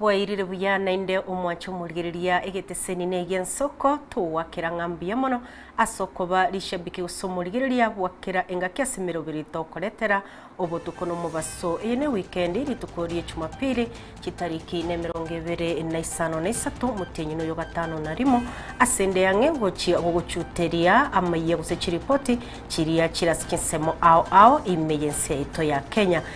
Bwairire buya naende omwanche omorigereria egeteseni neiga ensoko togoakera ng'a mbuya mono ase okoba rishabiki gose omorigereria bwa kera engaki ase emeroberi tokoretera obotuko nomobaso eye ne wikendi rituko rie chumapili chitariki ne emerongo ebere na isano na isato motienyi noyo gatano na rimo ase ende yang'e gochia gogochuteria amayia gose chiripoti chiria chire ase chinsemo ao ao ime yense yaito ya kenya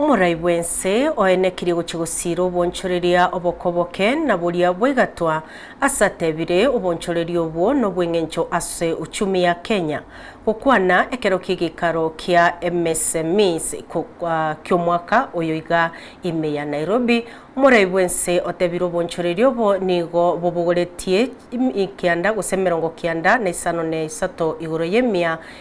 Omorai bw'ense oenekirie gochia gosiira obonchoreria obokoboke, na boria bwaigatwa ase atebire obonchoreria obwo nobw'eng'encho ase uchumi ya Kenya, gokwana ekero ki'egeikaro kia MSMEs ki'omwaka oyo iga ime ya Nairobi. Omorai bw'ense otebire obonchoreria obo nigo bobogoretie kianda gose emerongo kianda na isano na isato igoro y'emia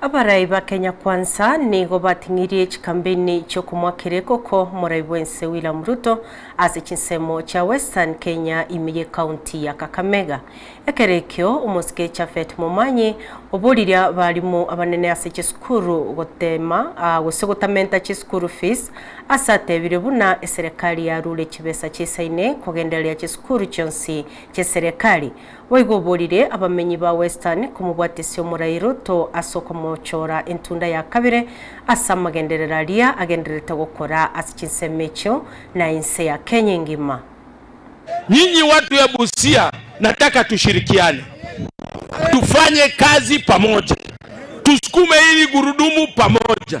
Abarai ba Kenya Kwanza nigo bating'irie chikampeini chi'okomoakera ekoko morai bw'ense William Ruto ase chinsemo chia Western Kenya ime y'ecounty ya Kakamega. Ekero ekio, omosike Japhet Momanyi oboririe abarimu abanene ase chisukuru gotema gose gotamenta chisukuru fees ase atebire buna eserekari yarure chibesa chisaine kogendereria chisukuru chionsi ch'eserekari Boigo oborire abamenyi ba Western komobwatesia omorairo to ase okomochora entunda ya kabere ase amagenderero aria agendererete gokora ase chinsemo echio na ense ya Kenya engima. Nyinyi watu ya Busia nataka tushirikiane tufanye kazi pamoja tusukume hili gurudumu pamoja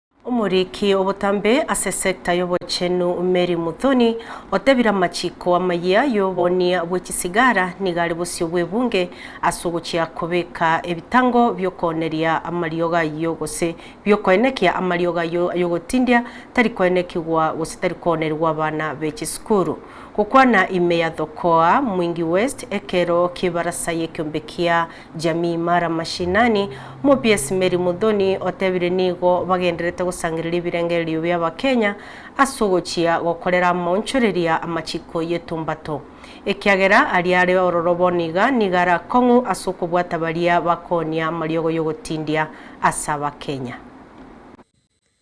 Omoriki obotambe ase sector y'obochenu Mary Muthoni otebire amachiko amayia y'obonia bwe chisigara nigo are bosio bw'ebunge ase ogochia kobeka ebitango bi'okooneria amariogo ayio gose bi'okoenekia amariogo ayio ay'ogotindia tari koenekigwa gose tari koonerigwa abana be chisukuru gokwana ime ya Thokoa, Mwingi West, ekero ki'ebarasa y'ekiombe kia Jamii Mara Mashinani, Omobiesi Mary Muthoni otebire nigo bagenderete gosangereria ebirengererio bia Abakenya ase ogochia gokorera amaonchoreria amachiko y'etumbato, ekiagera aria are ororo bono iga nigo are akong'u ase okobwata baria bakoonia amariogo y'ogotindia ase Abakenya.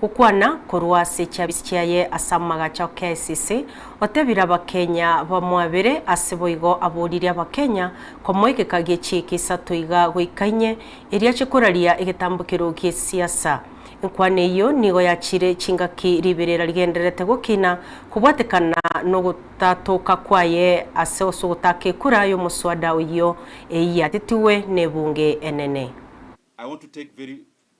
gokwana korwa ase chiabisi chiaye ase amagacho a KICC, otebire Abakenya bamwabere ase boigo aboririe Abakenya komoegeka gie chiika isato iga goika inye, erio ache koraria egetambo keru gie siasa. Enkwana eyio nigo yachire chingaki riberera rigendererete gokina kobwatekana nogotatoka kwaye ase osogotaka ekura yomoswada oyio eyiatetigwe nebunge enene. I want to take very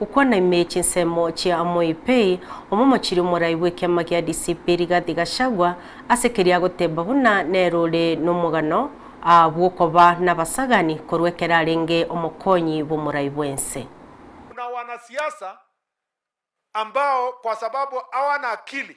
Gokwana ime chinsemo chia Amoy Pay, omomochiri omorai bw'ekiama gia DCP Rigathi Gachagua, ase keria agoteba buna nere ore nomogano aa bw'okoba nabasagani korwa ekero arenge omokonyi bw'omorai bwense. Kuna wanasiasa ambao kwa sababu hawana akili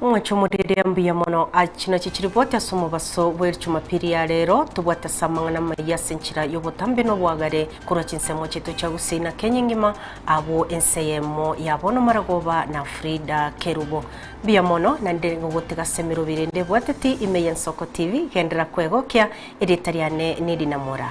Mwache omorere mbuya mono. Achi nachi chiripoti ase omobaso bwe Jumapili ya rero. Tobwate ase amang'ana amaya ase enchera y'obotambe na obwagare korwa chinsemo chiaito chia Gusii na Kenya engima, abwo ense eyemo ya bono Maragoba na Frida Kerubo. Mbuya mono naende gogotega ase emerobi ere ndebwateti ime ya Nsoko TV. Genderera kwegokia, erieta riane neri Namora.